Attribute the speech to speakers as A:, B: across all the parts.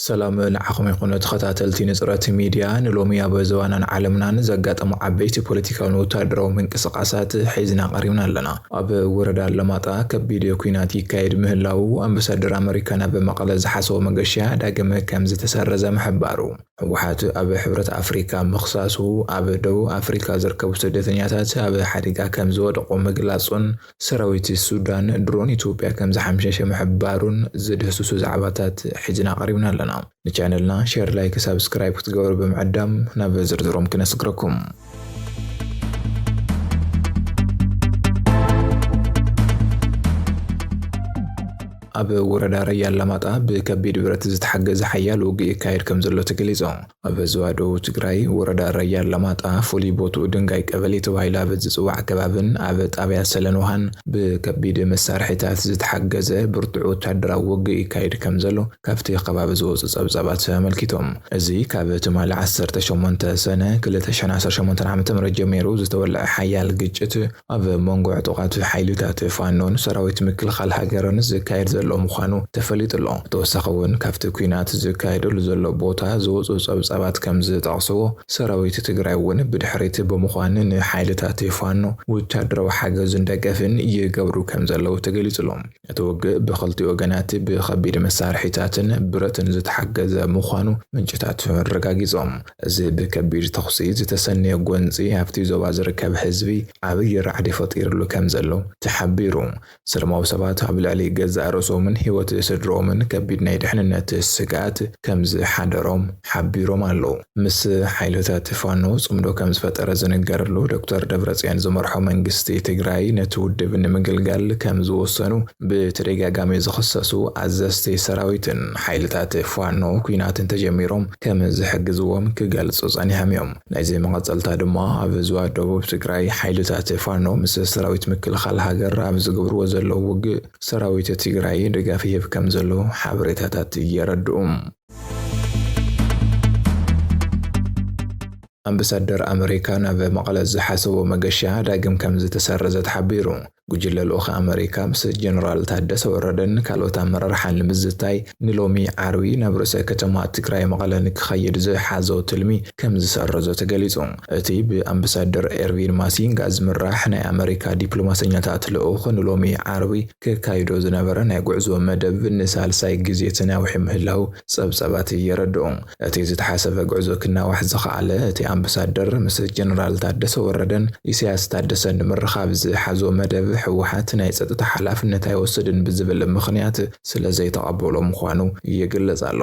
A: ሰላም ንዓኹም ይኹን ተኸታተልቲ ንፅረት ሚድያ ንሎሚ ኣብ ዘባናን ዓለምናን ዘጋጠሙ ዓበይቲ ፖለቲካውን ወታደራዊ ምንቅስቓሳት ሒዝና ቀሪብና ኣለና። ኣብ ወረዳ ኣለማጣ ከቢድ ኩናት ይካየድ ምህላው ኣምባሳደር ኣመሪካ ናብ መቐለ ዝሓሰቦ መገሻ ዳግም ከም ዝተሰረዘ ምሕባሩ፣ ህወሓት ኣብ ሕብረት ኣፍሪካ ምኽሳሱ ኣብ ደቡብ ኣፍሪካ ዝርከቡ ስደተኛታት ኣብ ሓደጋ ከም ዝወደቑ ምግላጹን ሰራዊት ሱዳን ድሮን ኢትዮጵያ ከም ዝሓምሸሸ ምሕባሩን ዝድህስሱ ዛዕባታት ሒዝና ቀሪብና ኣለና። ንቻነልና ሸር ላይክ ሳብስክራይብ ክትገብሩ ብምዕዳም ናብ ዝርዝሮም ክነስግረኩም። ኣብ ወረዳ ረያ ኣላማጣ ብከቢድ ብረት ዝተሓገዘ ሓያል ውግእ ይካየድ ከም ዘሎ ተገሊጹ። ኣብ ዞባ ደቡብ ትግራይ ወረዳ ረያ ኣላማጣ ፍሉይ ቦትኡ ድንጋይ ቀበሌ ተባሂሉ ኣብ ዝጽዋዕ ከባብን ኣብ ጣብያ ሰለን ውሃን ብከቢድ መሳርሒታት ዝተሓገዘ ብርቱዕ ወታደራዊ ውግእ ይካየድ ከም ዘሎ ካብቲ ከባቢ ዝወጹ ጸብጻባት ኣመልኪቶም። እዚ ካብ ትማሊ ዓሰርተ ሸሞንተ ሰነ ክልተ ሽሕን ዓሰርተ ሸሞንተን ዓመተ ምህረት ጀሚሩ ዝተወልዐ ሓያል ግጭት ኣብ መንጎ ዕጡቓት ሓይልታት ፋኖን ሰራዊት ምክልኻል ሃገርን ዝካየድ ዘሎ ምዃኑ ተፈሊጡ'ሎ። ብተወሳኺ'ውን ካብቲ ኲናት ዝካየደሉ ዘሎ ቦታ ዝወጹ ጸብጻባት ከምዝጠቕስዎ ሰራዊት ትግራይ'ውን ብድሕሪት ብምዃን ንሓይልታት ፋኖ ወታደራዊ ሓገዝን ደገፍን ይገብሩ ከምዘለዉ ተገሊጹ'ሎ። እቲ ውግእ ብኽልቲኡ ወገናት ብኸቢድ መሳርሒታትን ብረትን ዝተሓገዘ ምዃኑ ምንጭታቱ ኣረጋጊጾም። እዚ ብከቢድ ተኹሲ ዝተሰነየ ጎንጺ ኣብቲ ዞባ ዝርከብ ህዝቢ ዓብዪ ራዕዲ ፈጢርሉ ከምዘሎ ተሓቢሩ። ሰለማዊ ሰባት ኣብ ልዕሊ ገዛእ ርእሶምን ህይወት ስድርኦምን ከቢድ ናይ ድሕንነት ስግኣት ከምዝሓደሮም ሓቢሮም ኣለዉ። ምስ ሓይልታት ፋኖ ፅምዶ ከምዝፈጠረ ዝንገረሉ ዶክተር ደብረፅዮን ዝመርሖ መንግስቲ ትግራይ ነቲ ውድብ ንምግልጋል ከምዝወሰኑ ብተደጋጋሚ ዝኽሰሱ ኣዘዝቲ ሰራዊትን ሓይልታት ፋኖ ኲናት እንተጀሚሮም ከምዝሕግዝዎም ክገልፁ ፀኒሖም እዮም። ናይዚ መቐፀልታ ድማ ኣብ ዞባ ደቡብ ትግራይ ሓይልታት ፋኖ ምስ ሰራዊት ምክልኻል ሃገር ኣብ ዝገብርዎ ዘለዉ ውግእ ሰራዊት ትግራይ ድጋፍ ይህብ ከምዘሎ ሓበሬታታት የረድኡ። ኣምበሳደር ኣመሪካ ናብ መቐለ ዝሓሰቦ መገሻ ዳግም ከምዝተሰረዘ ተሓቢሩ። ጉጅለ ልኡኽ ኣመሪካ ምስ ጀነራል ታደሰ ወረደን ካልኦት ኣመራርሓን ንምዝታይ ንሎሚ ዓርቢ ናብ ርእሰ ከተማ ትግራይ መቐለ ንክኸይድ ዝሓዞ ትልሚ ከምዝሰረዞ ተገሊፁ። እቲ ብኣምበሳደር ኤርቪን ማሲንጋ ዝምራሕ ናይ ኣመሪካ ዲፕሎማሰኛታት ልኡኽ ንሎሚ ዓርቢ ከካይዶ ዝነበረ ናይ ጉዕዞ መደብ ንሳልሳይ ግዜ ተናዊሑ ምህላው ጸብጻባት የረድኡ። እቲ ዝተሓሰበ ጉዕዞ ክናዋሕ ዝኸኣለ፣ እቲ ኣምብሳደር ምስ ጀነራል ታደሰ ወረደን ኢሳያስ ታደሰን ንምርኻብ ዝሓዞ መደብ ህወሓት ናይ ጸጥታ ሓላፍነት ኣይወስድን ብዝብል ምኽንያት ስለዘይተቐበሎ ምዃኑ ይግለጽ ኣሎ።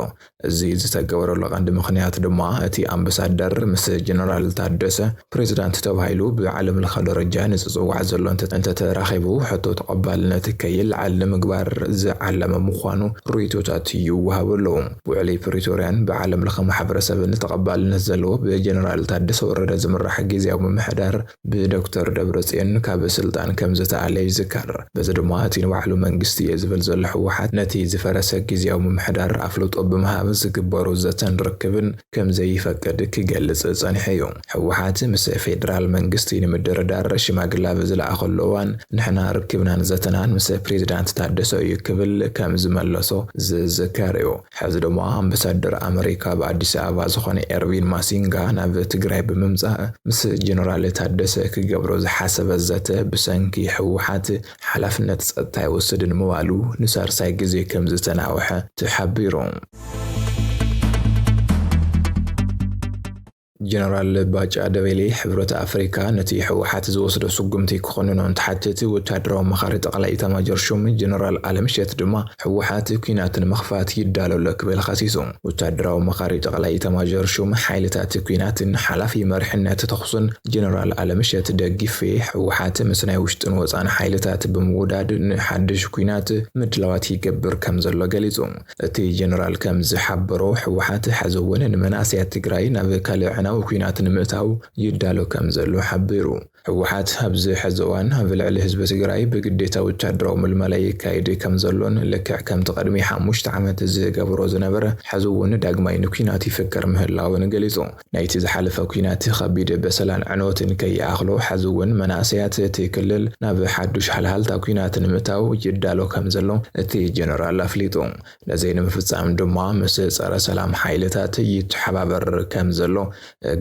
A: እዚ ዝተገበረሉ ቀንዲ ምኽንያት ድማ እቲ ኣምበሳደር ምስ ጀነራል ታደሰ ፕሬዚዳንት ተባሂሉ ብዓለም ለኸ ደረጃ ንዝፅዋዕ ዘሎ እንተተራኺቡ ሕቶ ተቐባልነት ከይልዓል ንምግባር ዝዓለመ ምዃኑ ሪኢቶታት ይወሃቡ ኣለው። ውዕሊ ፕሪቶሪያን ብዓለም ለኸ ማሕበረሰብን ተቐባልነት ዘለዎ ብጀነራል ታደሰ ወረደ ዝምራሕ ጊዚያዊ ምምሕዳር ብዶክተር ደብረጽዮን ካብ ስልጣን ከም ዝተኣለ ይዝከር። በዚ ድማ እቲ ንባዕሉ መንግስቲ እየ ዝብል ዘሎ ህወሓት ነቲ ዝፈረሰ ግዝያዊ ምምሕዳር ኣፍልጦ ብምሃብ ዝግበሩ ዘተን ርክብን ከም ዘይፈቅድ ክገልጽ ጸኒሑ እዩ። ህወሓት ምስ ፌደራል መንግስቲ ንምድርዳር ሽማግለ ኣብ ዝለኣኸሉ እዋን ንሕና ርክብናን ዘተናን ምስ ፕሬዚዳንት ታደሰ እዩ ክብል ከም ዝመለሶ ዝዝከር እዩ። ሕዚ ድማ ኣምበሳደር ኣመሪካ ኣብ ኣዲስ ኣበባ ዝኾነ ኤርቪን ማሲንጋ ናብ ትግራይ ብምምፃእ ምስ ጀነራል ታደሰ ክገብሮ ዝሓሰበ ዘተ ብሰንኪ ህወሓት ሓላፍነት ፀጥታ ኣይወስድን ምባሉ ንሳልሳይ ግዜ ከምዝተናውሐ ተሓቢሩ። ጀነራል ባጫ ደበሌ ሕብረት ኣፍሪካ ነቲ ህወሓት ዝወስዶ ስጉምቲ ክኾንኖ እንትሓትት ወታደራዊ ኣማኻሪ ጠቕላይ ኢታማጆር ሹም ጀነራል ኣለምሸት ድማ ህወሓት ኲናት ንምኽፋት ይዳሎ ኣሎ ክብል ኸሲሱ። ወታደራዊ ኣማኻሪ ጠቕላይ ኢታማዦር ሹም ሓይልታት ኲናትን ሓላፊ መሪሕነት ተኹስን ጀነራል ኣለምሸት ደጊፌ ህወሓት ምስ ናይ ውሽጥን ወፃእን ሓይልታት ብምውዳድ ንሓዱሽ ኲናት ምድላዋት ይገብር ከምዘሎ ገሊፁ። እቲ ጀነራል ከም ዝሓበሮ፣ ህወሓት ሐዚ እውን ንመናእሰያት ትግራይ ናብ ካልእ ኣዕናዊ ኲናት ንምእታው ይዳሎ ከም ዘሎ ሓቢሩ። ህወሓት ኣብዚ ሐዚ እዋን ኣብ ልዕሊ ህዝቢ ትግራይ ብግዴታ ወታደራዊ ምልመላ የካይድ ከም ዘሎን ልክዕ ከምቲ ቅድሚ ሓሙሽተ ዓመት ዝገብሮ ዝነበረ ሐዚ እውን ዳግማይ ንኲናት ይፍከር ምህላውን ገሊፁ። ናይቲ ዝሓለፈ ኲናት ኸቢድ በሰላን ዕንወትን ከይኣኽሎ ሐዚ እውን መናእሰያት እቲ ክልል ናብ ሓዱሽ ሃልሃልታ ኲናት ንምእታው ይዳሎ ከምዘሎ እቲ ጀነራል ኣፍሊጡ። ነዚ ንምፍፃም ድማ ምስ ፀረ ሰላም ሓይልታት ይተሓባበር ከምዘሎ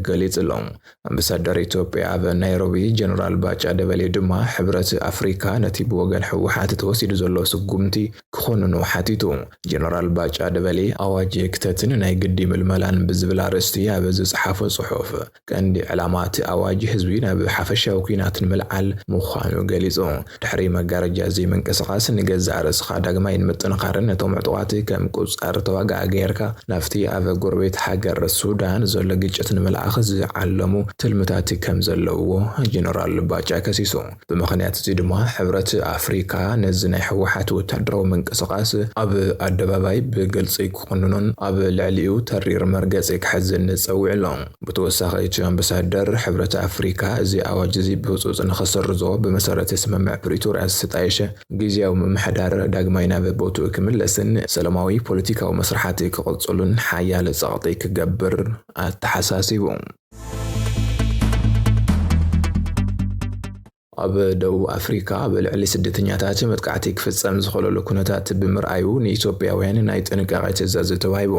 A: ገሊፁ ኣሎ። ኣምበሳደር ኢትዮጵያ ኣብ ናይሮቢ ጀነራል ባጫ ደበሌ ድማ ሕብረት ኣፍሪካ ነቲ ብወገን ህወሓት ተወሲዱ ዘሎ ስጉምቲ ክኾንኑ ሓቲቱ። ጀነራል ባጫ ደበሌ ኣዋጅ ክተትን ናይ ግዲ ምልመላን ብዝብል ኣርእስቲ ኣብ ዝጸሓፎ ጽሑፍ፣ ቀንዲ ዕላማ እቲ ኣዋጅ ህዝቢ ናብ ሓፈሻዊ ኲናት ንምልዓል ምዃኑ ገሊጹ። ድሕሪ መጋረጃ ዘይምንቅስቓስ፣ ንገዛእ ርእስኻ ዳግማይ ንምጥንኻርን ነቶም ዕጡቓት ከም ቁጻር ተዋጋኢ ገይርካ ናብቲ ኣብ ጎረቤት ሃገር ሱዳን ዘሎ ግጭት ንምልኣኽ ዝዓለሙ ትልምታት ከምዘለውዎ ጀነራል ባጫ ከሲሱ። ብምኽንያት እዚ ድማ ሕብረት ኣፍሪካ ነዚ ናይ ህወሓት ወታደራዊ ምንቅስቓስ ኣብ ኣደባባይ ብግልፂ ክኹንኖን ኣብ ልዕሊኡ ተሪር መርገፂ ክሕዝን ፀዊዑ ኣሎ። ብተወሳኺ እቲ ኣምበሳደር፣ ሕብረት ኣፍሪካ እዚ ኣዋጅ እዚ ብህፁፅ ንኸሰርዞ ብመሰረት ስምምዕ ፕሪቶርያ ዝተጣየሸ ጊዚያዊ ምምሕዳር ዳግማይ ናብ ቦትኡ ክምለስን ሰለማዊ ፖለቲካዊ መስርሓት ክቕፅሉን ሓያል ፀቕጢ ክገብር ኣተሓሳሲቡ። ኣብ ደቡብ ኣፍሪካ ኣብ ልዕሊ ስደተኛታት መጥቃዕቲ ክፍፀም ዝኸለሉ ኩነታት ብምርኣዩ ንኢትዮጵያውያን ናይ ጥንቃቄ ትእዛዝ ተዋሂቡ።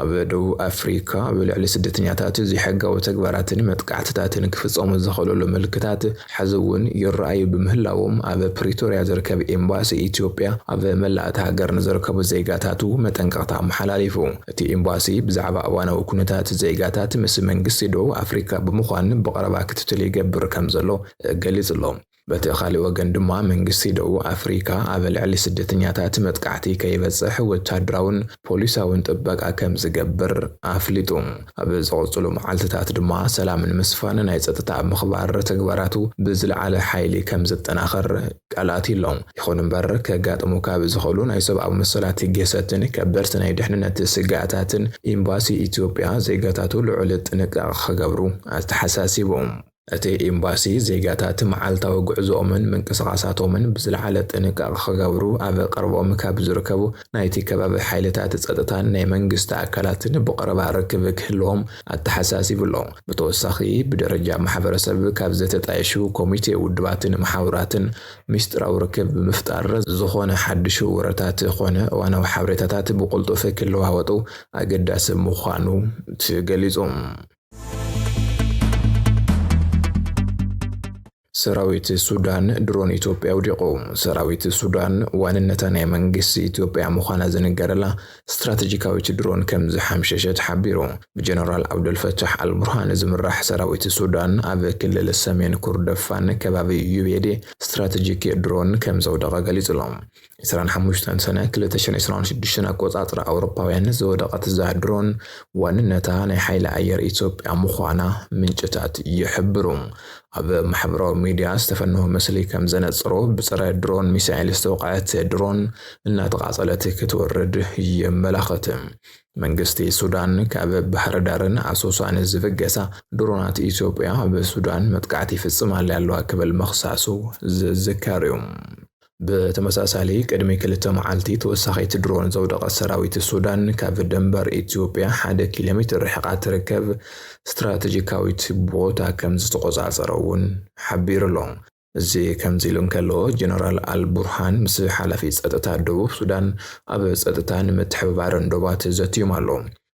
A: ኣብ ደቡብ ኣፍሪካ ኣብ ልዕሊ ስደተኛታት ዘይሕጋዊ ተግባራትን መጥቃዕትታትን ክፍፀሙ ዝኸለሉ ምልክታት ሐዚ እውን ይረኣዩ ብምህላዎም ኣብ ፕሪቶርያ ዝርከብ ኤምባሲ ኢትዮጵያ ኣብ መላእ እታ ሃገር ንዝርከቡ ዜጋታቱ መጠንቀቕታ ኣመሓላሊፉ። እቲ ኤምባሲ ብዛዕባ እዋናዊ ኩነታት ዜጋታት ምስ መንግስቲ ደቡብ ኣፍሪካ ብምዃን ብቐረባ ክትትል ይገብር ከምዘሎ ገሊፁ ኣሎ። በቲ ካሊእ ወገን ድማ መንግስቲ ደቡብ ኣፍሪካ ኣብ ልዕሊ ስደተኛታት መጥቃዕቲ ከይበፅሕ ወታደራውን ፖሊሳውን ጥበቃ ከም ዝገብር ኣፍሊጡ። ኣብ ዝቕጽሉ መዓልቲታት ድማ ሰላም ንምስፋን ናይ ጸጥታ ምኽባር ተግባራቱ ብዝለዓለ ሓይሊ ከም ዘጠናኽር ቃል ኣትዩ'ሎ። ይኹን እምበር ከጋጥሙ ካብ ዝኽእሉ ናይ ሰብኣዊ መሰላት ግህሰትን ከበድቲ ናይ ድሕንነት ስግኣታትን ኢምባሲ ኢትዮጵያ ዜጋታቱ ልዑል ጥንቃቐ ክገብሩ ኣተሓሳሲቡ። እቲ ኤምባሲ፣ ዜጋታት መዓልታዊ ጉዕዞኦምን ምንቅስቓሳቶምን ብዝለዓለ ጥንቃቐ ክገብሩ ኣብ ቀረበኦም ካብ ዝርከቡ ናይቲ ከባቢ ሓይልታት ጸጥታን ናይ መንግስቲ ኣካላትን ብቐረባ ርክብ ክህልዎም ኣተሓሳሲቡ ኣሎ። ብተወሳኺ፣ ብደረጃ ማሕበረሰብ ካብ ዝተጣየሹ ኮሚቴ ውድባትን መሓውራትን ሚስጥራዊ ርክብ ብምፍጣር፣ ዝኾነ ሓድሽ ወረታት ኮነ እዋናዊ ሓበሬታታት ብቕልጡፍ ክለዋወጡ ኣገዳሲ ምዃኑ ተገሊጹ። ሰራዊት ሱዳን ድሮን ኢትዮጵያ ኣውዲቑ። ሰራዊት ሱዳን ዋንነታ ናይ መንግስቲ ኢትዮጵያ ምዃና ዝንገረላ ስትራተጂካዊት ድሮን ከም ዝሓምሸሸት ሓቢሩ። ብጀነራል ዓብደልፈታሕ ኣልቡርሃን ዝምራሕ ሰራዊት ሱዳን ኣብ ክልል ሰሜን ኩርደፋን ከባቢ ዩቤዴ ስትራተጂክ ድሮን ከም ዘውደቐ ገሊጹ'ሎ። ዕስራን ሓሙሽተን ሰነ ክልተ ሽሕን ዕስራን ሽዱሽተን ኣቆጻጽራ ኣውሮፓውያን ዝወደቐት እዛ ድሮን ዋንነታ ናይ ሓይሊ ኣየር ኢትዮጵያ ምዃና ምንጭታት ይሕብሩ። ኣብ ማሕበራዊ ሚድያ ዝተፈነወ ምስሊ ከም ዘነጽሮ ብጸረ ድሮን ሚሳኤል ዝተወቕዐት ድሮን እናተቓጸለት ክትወርድ የመላኽት። መንግስቲ ሱዳን ካብ ባህር ዳርን ኣሶሳን ዝብገሳ ድሮናት ኢትዮጵያ ኣብ ሱዳን መጥቃዕቲ ይፍጽም ኣለ ኣለዋ ክብል መኽሳሱ ዝዝከር እዩ። ብተመሳሳሊ ቅድሚ ክልተ መዓልቲ ተወሳኺት ድሮን ዘውደቐት ሰራዊት ሱዳን ካብ ድንበር ኢትዮጵያ ሓደ ኪሎ ሜትር ርሕቓ ትርከብ ስትራተጂካዊት ቦታ ከም ዝተቖጻጸረ እውን ሓቢሩ ኣሎ። እዚ ከምዚ ኢሉ እንከሎ፣ ጀነራል ኣል ቡርሃን ምስ ሓላፊ ጸጥታ ደቡብ ሱዳን ኣብ ጸጥታን ምትሕብባርን ዶባት ዘትዮም ኣሎ።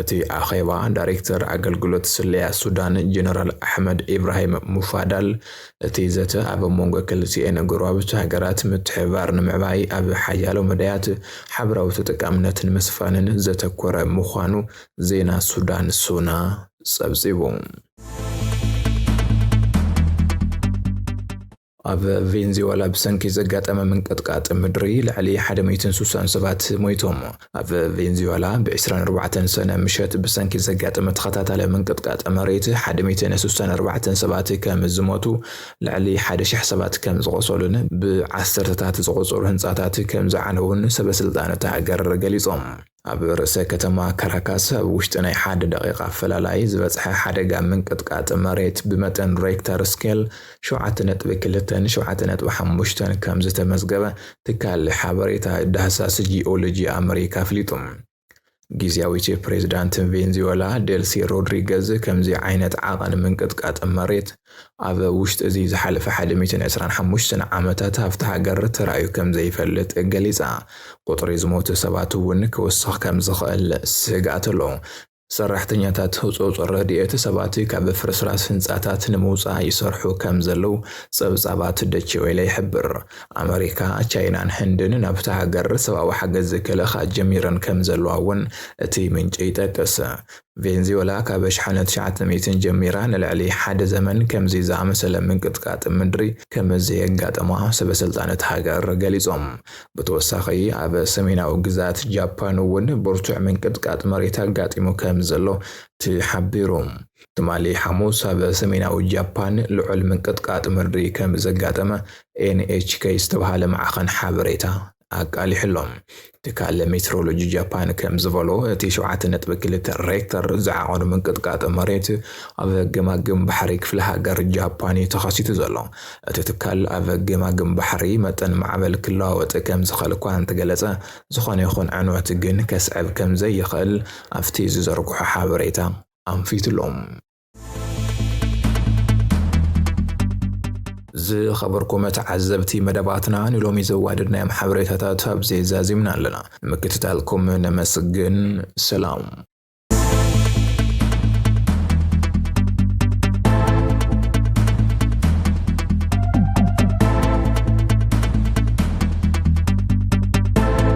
A: እቲ ኣኼባ፣ ዳይሬክተር ኣገልግሎት ስለያ ሱዳን ጀነራል ኣሕመድ ኢብራሂም ሙፋዳል፣ እቲ ዘተ ኣብ መንጎ ክልቲኤን ጎረባብቲ ሃገራት ምትሕብባር ንምዕባይ ኣብ ሓያሎ መዳያት ሓበራዊ ተጠቃምነት ንምስፋንን ዘተኮረ ምዃኑ ዜና ሱዳን ሱና ጸብጺቡ። ኣብ ቬንዝወላ ብሰንኪ ዘጋጠመ ምንቅጥቃጥ ምድሪ ልዕሊ ሓደ ሚእትን ሱሳን ሰባት ሞይቶም። ኣብ ቬንዝወላ ብ ዕስራን ኣርባዕተን ሰነ ምሸት ብሰንኪ ዘጋጠመ ተኸታታሊ ምንቅጥቃጥ መሬት ሓደ ሚእትን ሱሳን ኣርባዕተን ሰባት ከም ዝሞቱ ልዕሊ ሓደ ሽሕ ሰባት ከም ዝቖሰሉን ብ ዓሰርተታት ዝቑጸሩ ህንጻታት ከም ዝዓነዉን ሰበስልጣን እታ ሃገር ገሊጾም። ኣብ ርእሰ ከተማ ካራካስ ኣብ ውሽጢ ናይ ሓደ ደቒቓ ኣፈላላይ ዝበጽሐ ሓደጋ ምንቅጥቃጥ መሬት ብመጠን ሬክተር ስኬል ሸውዓተ ነጥቢ ክልተን ሸውዓተ ነጥቢ ሓሙሽተን ከም ዝተመዝገበ ትካል ሓበሬታ ዳህሳስ ጂኦሎጂ ኣመሪካ ኣፍሊጡ። ጊዜያዊት ፕሬዚዳንት ቬንዙዌላ ዴልሲ ሮድሪገዝ ከምዚ ዓይነት ዓቐን ምንቅጥቃጥ መሬት ኣብ ውሽጢ እዚ ዝሓለፈ ሓደ ሚእትን ዕስራን ሓሙሽተን ዓመታት ሃፍቲ ሃገር ተራእዩ ከምዘይፈልጥ ገሊጻ። ቁጽሪ ዝሞቱ ሰባት እውን ክውስኽ ከምዝኽእል ስግኣት ኣሎ። ሰራሕተኛታት ህጹጽ ረድኤት ሰባት ካብ ፍርስራስ ህንጻታት ንምውጻእ ይሰርሑ ከምዘለዉ ጸብጻባት ደቼ ዌለ ይሕብር። ኣመሪካ፣ ቻይናን ህንድን ናብታ ሃገር ሰብኣዊ ሓገዝ ክልእኻ ጀሚረን ከምዘለዋ እውን እቲ ምንጪ ይጠቅስ። ቬንዝወላ ካብ ኣሽሓነ ትሽዓተ ሚእትን ጀሚራ ንልዕሊ ሓደ ዘመን ከምዚ ዝኣመሰለ ምንቅጥቃጥ ምድሪ ከም ዘየጋጠማ ሰበስልጣን እታ ሃገር ገሊጾም። ብተወሳኺ ኣብ ሰሜናዊ ግዝኣት ጃፓን'ውን ብርቱዕ ምንቅጥቃጥ መሬት ኣጋጢሙ ከም ዘሎ ተሓቢሩ። ትማሊ ሓሙስ ኣብ ሰሜናዊ ጃፓን ልዑል ምንቅጥቃጥ ምድሪ ከም ዘጋጠመ ኤንኤችከይ ዝተብሃለ ማዕኸን ሓበሬታ ኣቃሊሑ ኣሎ። ትካል ሜትሮሎጂ ጃፓን ከምዝበሎ፣ እቲ ሸውዓተ ነጥቢ ክልተ ሬክተር ዝዓቐኑ ምንቅጥቃጥ መሬት ኣብ ገማግም ባሕሪ ክፍለ ሃገር ጃፓን እዩ ተኸሲቱ ዘሎ። እቲ ትካል ኣብ ገማግም ባሕሪ መጠን ማዕበል ክለዋወጥ ከምዝኽእል እኳ እንተገለጸ፣ ዝኾነ ይኹን ዕንወት ግን ከስዕብ ከምዘይኽእል ኣብቲ ዝዘርግሖ ሓበሬታ ኣንፊቱ'ሎ። ዝኸበርኩም ተዓዘብቲ መደባትና ንሎሚ ዘዋደድናዮም ሓበሬታታት ኣብዚ ዛዚምና ኣለና። ምክትታልኩም ነመስግን። ሰላም